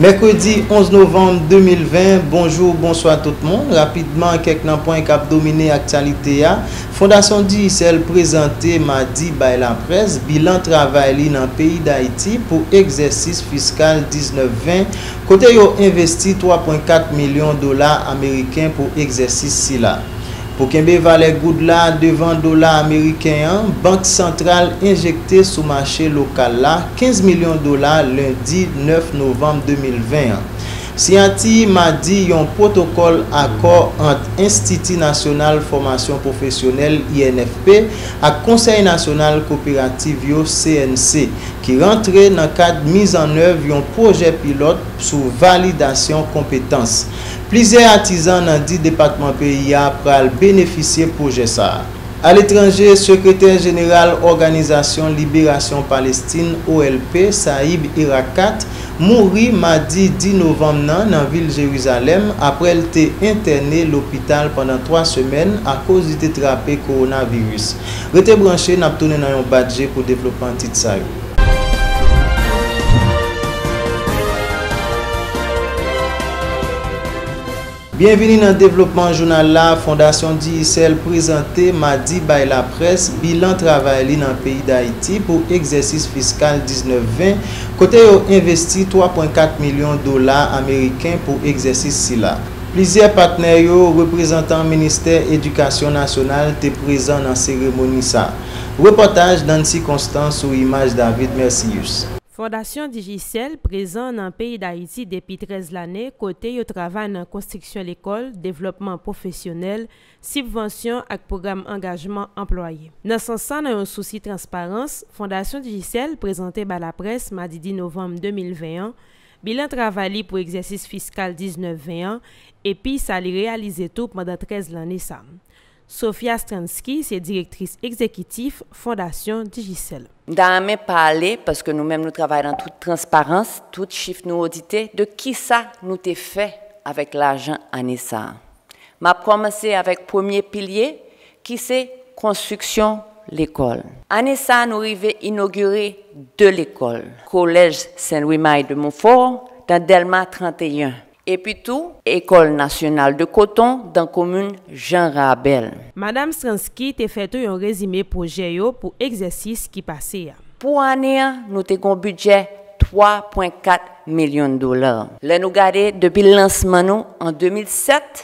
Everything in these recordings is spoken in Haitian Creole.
Mèkredi 11 novanm 2020, bonjou, bonswa tout moun. Rapidman, kèk nan pwen k ap domine aktyalite a. Fondasyon Digicel prezante madi bay laprès bilan travay li nan peyi Dayiti pou egzèsis fiskal 19, 20. Kote yo envesti 3.4 milyon dola ameriken pou egzèsis sila. Pou kenbe valè goud la devan dola ameriken an, Bank Santral enjekte sou mache lokal la 15 milyon dola lendi 9 novanm 2020 an. Siyati madi yon pwotokòl akò ant Enstiti Nasyonal Fòmasyon Pwofesyonèl, INFP, ak Konsèy Nasyonal Koperativ yo, CNC, ki rantre nan kad mizannèv yon pwojè pilòt sou validasyon konpetans. Plizyè atizan nan di depatman peyi a pral benefisye pwojè sa a. Aletranje, Sekretè jeneral Òganizasyon Liberasyon Palestin, OLP, Saïb Erakkat, mouri madi 10 novanm nan nan vil Jerizalèm aprè l te entène lopital pandan 3 semèn akoz li te trape kowonaviris. Rete branche, n ap tounen nan yon bat je pou devlopman tit sa yo. Byenvini nan devlopman jounal la, Fondasyon Digicel prezante madi bay laprès bilan travay li nan peyi Dayiti pou egzèsis fiskal 19, 20, kote yo envesti 3.4 milyon dola ameriken pou egzèsis sila. Plizyè patnè yo, reprezantan ministè edikasyon nasyonal te prezan nan seremoni sa. Repòtaj Nancy Constant sou imaj David Mercius. Fondasyon Digicel prezan nan peyi Dayiti depi 13 lane kote yo travay nan konstriksyon lekòl, devlòpman pwofesyonèl, sibvansyon ak pwogram angajman anplwaye. Nan sans sa nan yon sousi transparans, Fondasyon Digicel prezante bay laprès madi 10 novanm 2020 an, Bilan travay li pou egzèsis fiskal 19 20 an epi sa li reyalize tou pandan 13 lanne sa. Sofia Stransky se direktris egzekitif Fondasyon Digicel. M ta renmen pale, paske nou menm nou travay nan tout transparans, tout chif nou odite, de kisa nou te fè avèk lajan ane sa. M ap kòmanse avèk premye pilye, ki se konstriksyon lekòl. Ane sa a nou rive inogire 2 lekòl, Kolèj Sen Lwi Mayi de Monfò dan Dèlma 31, epi tou Ekòl Nasyonal de Koton dan komin Jan Rabèl. Madam Stransky te fè tou yon rezime pwojè yo pou egzèsis ki pase a. Pou ane a, nou te gen yon bidjè 3 pwen 4 milyon dola. Lè nou gade depi lansman nou an 2007,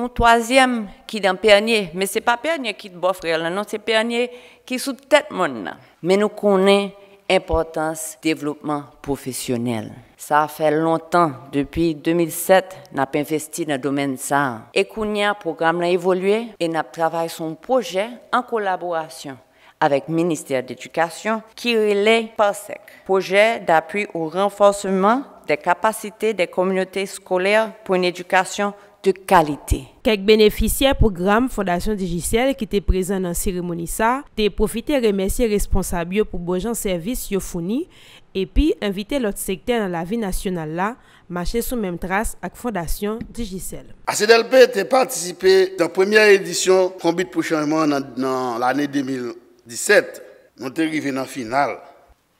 On twazyèm ki dan Pènye, men se pa Pènye ki t bò frè lan non se Pènye ki sou tèt mòn nan. Men nou konnen enpòtans devlopman pwofesyonèl. Sa fè lontan, depi 2007, n ap envesti nan domèn sa. E kounye a pwogram lan evolye e n ap travay sou on pwojè an kolaborasyon avèk ministè dedikasyon ki rele PARSEC, Pwojè d'Apui au Renforcement des Capacités des Communautés Scolaires pour une Éducation de Qualité. Kèk benefisyè pwogram Fondasyon Digicel ki te prezan nan seremoni sa te pwofite remèsye responsab yo pou bonjan sèvis yo founi epi envite lòt sektè nan lavi nasyonal la Mache sou menm tras ak Fondasyon Digicel. ACDLP te patisipe nan premyè edisyon Konbit pou Chanjman an nan lane 2017. Nou te rive nan final,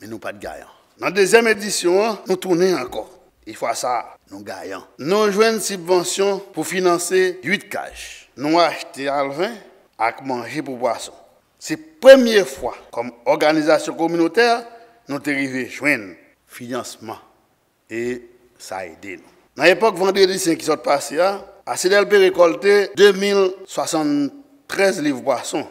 men nou pa t gayan. Nan dezyèm edisyon an, nou tounen ankò, e fwa sa a, nou gayan. Nou jwenn sibvansyon pou finanse 8 kaj. Nou achte alven ak manje pou pwason. Se premye fwa, kòm òganizasyon kominotè, nou te rive jwenn finansman e sa ede nou. Nan epòk Vandredi sen ki sot pase a, Asidèl Pé rekòlte 2073 liv pwason.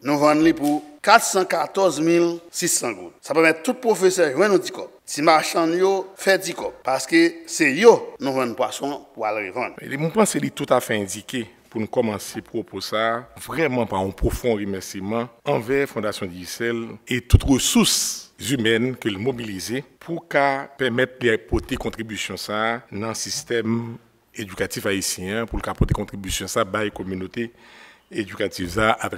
Nou vann li pou 414 mil 600 goud. Sa pèmèt tout pwofesè jwenn yon ti kòb. Ti machann yo fè ti kòb, paske se yo nou vann pwason pou al revann. Mwen panse li toutafè endike Pou n kòmanse pwopo sa a. Vrèman pa yon pwofon remèsiman anvè Fondasyon Digicel e tout resous zimèn ke l mobilize pou ka pèmèt li pote kontribisyon sa a nan sistèm edikatif ayisyen an, pou l ka pote kontribisyon sa a bay kominote edikatif sa a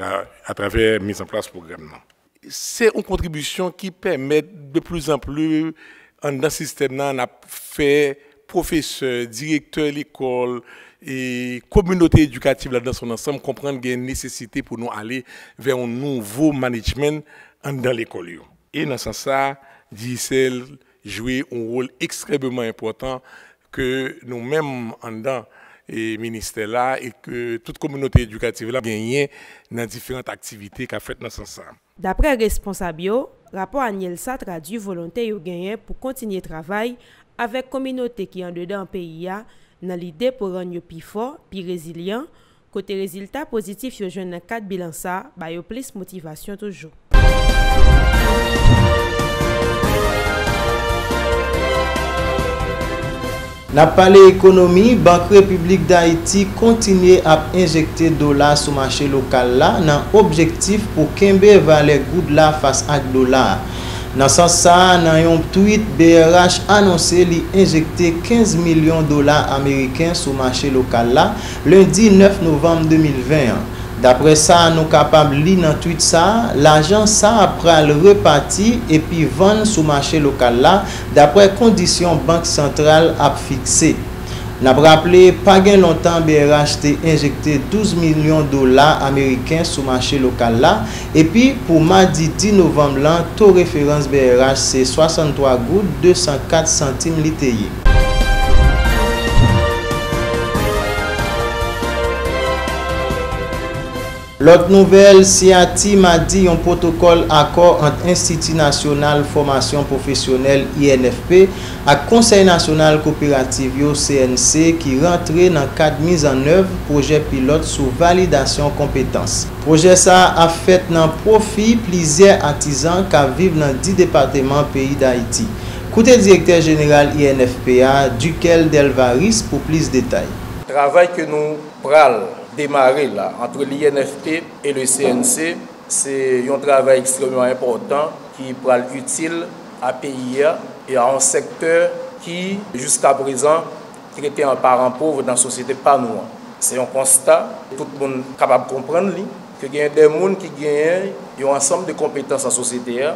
atravè mizanplas pwogram nan. Se yon kontribisyon ki pèmèt de pli zan pli anndan sistèm nan ap fè pwofesè, direktè lekòl, kominote edikatif la nan son ansanm konprann gen nesesite pou nou ale vè yon nouvo manedjment anndan lekòl yo. E nan sans sa, Digicel jwe yon wòl ekstrèmeman enpòtan ke nou menm anndan ministè la e ke tout kominote edikativ la genyen nan diferant aktivite k ap fèt nan sans sa a. Daprè responsab yo, rapò anyèl sa tradui volonte yo genyen pou kontinye travay avèk kominote ki andedan peyi a nan lide pou rann yo pi fò, pi rezilyan, kote rezilta pozitif yo jwenn nan kad bilan sa ba yo plis motivasyon toujou. N ap pale ekonomi, Bank Repiblik Dayiti kontinye ap enjekte dola sou mache lokal la nan objektif pou kenbe valè goud la fas ak dola a. Nan sans sa, nan yon tweet brh anonse li enjekte 15 milyon dola ameriken sou mache lokal la Lendi 9 novanm 2020 an, daprè sa nou kapab li nan twit sa, lajan sa pral repati epi vann sou mache lokal la daprè kondisyon Bank Santral ap fikse. N ap raple, pa gen lontan brh te enjekte 12 milyon dola ameriken sou mache lokal la, Epi pou madi 10 novanm lan, to referans brh se 63 goud 204 santim li te ye. Lòt nouvèl, siyati madi yon pwotokòl akò ant Enstiti Nasyonal Fòmasyon Pwofesyonèl, INFP, ak Konsèy Nasyonal Koperativ yo, CNC, ki rantre nan kad mizannèv pwojè pilòt sou validasyon konpetans. Pwojè sa a ap fèt nan pwofi plizyè atizan k ap viv nan 10 depateman peyi Dayiti. Koute direktè jeneral INFP a, Duckel Delvaris pou plis detay. Travay ke nou pral demare la antre l'INFP e le CNC se yon travay ekstrèmman enpòtan ki pral itil a peyi a e a yon sektè ki jiskaprezan trete an paran pov nan sosyete pa nou an. Se yon konsta tout moun kapab konprann li, ke gen de moun ki genyen yon ansanm de konpetans nan sosyete a,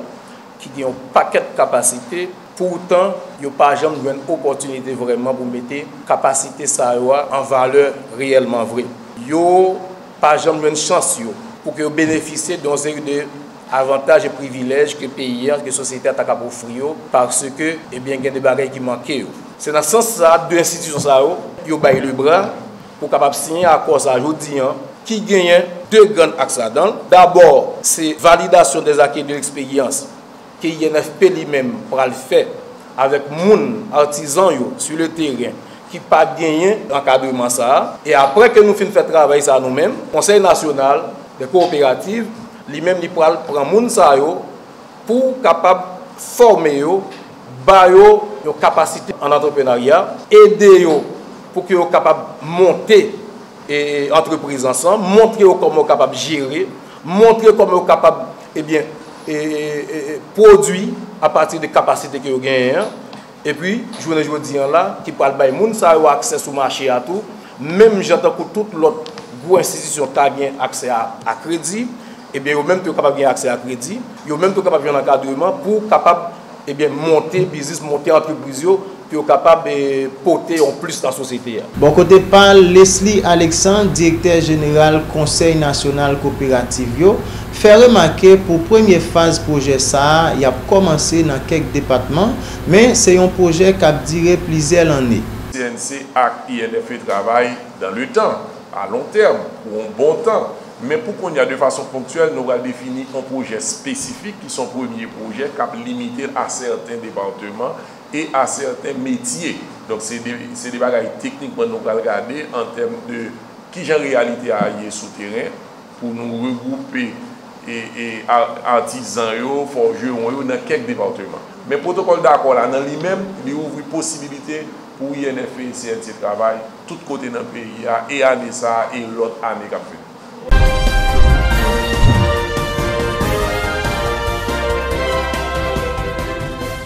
ki gen yon pakèt kapasite, poutan yo pa janm jwenn opòtinite vrèman pou mete kapasite sa yo a an valè reyèlman vre. Yo pa janm jwenn chans yo pou ke yo benefisye de yon seri de. avantaj e privilèj ke peyi an, ke sosyete a ta kab ofri yo, paske, ebyen gen de bagay ki manke yo. Se nan sans sa, 2 enstitisyon sa yo, yo bay le bra pou kapab siyen akò sa jodi an, ki genyen 2 grann aks ladan l. Dabò, se validasyon des acquis et de l'expérience ke INFP li menm pral fè avèk moun, artisan yo, sur le terrain, ki pa genyen ankadreman sa a. E aprè ke nou fin fè travay sa nou menm, Konsèy Nasyonal des Coopératives Li menm li pral pran moun sa yo pou kapab fòme yo, ba yo yon kapasite an antreprenarya, ede yo pou ke yo kapab monte antrepriz lan san, montre yo kòman yo kapab jere, montre kòman yo kapab ebyen pwodwi apati de kapasite ke yo genyen an. Epi, jounen jodi an la, ki pral bay moun sa yo aksè sou mache a tou, menm jan tankou tout lòt gwo enstitisyon ka gen aksè a kredi, ebyen yo menm tou yo kapab gen aksè a kredi, yo menm tou kapab jwenn ankadreman pou kapab, ebyen, monte biznis, monte antrepriz yo, pou yo kapab pote yon plis nan sosyete a. Bò kote pa l, Lesly Alexandre, direktè jeneral Konsèy nasyonal koperativ yo, fè remake pou premye faz pwojè sa a y ap kòmanse nan kèk depatman, men se yon pwojè k ap dire plizyè lanne. CNC ak INFE travay dan le tan, a lon tèm, pou yon bon tan, men pou kounye a de fason ponktyèl nou pral defini yon pwojè espesifik ki s on premye pwojè k ap limite l a sèten departeman e a sèten metye. Donk se de se de bagay teknikman nou pral gade an tèm de kijan reyalite a ye sou teren. Pou nou regwoupe atizan yo, fòjewon yo nan kèk depatman. Men pwotokòl dakò la nan li menm, li ouvri posibilite pou INFP e CNC travay tout kote nan peyi a e ane sa a e lòt ane k ap vini.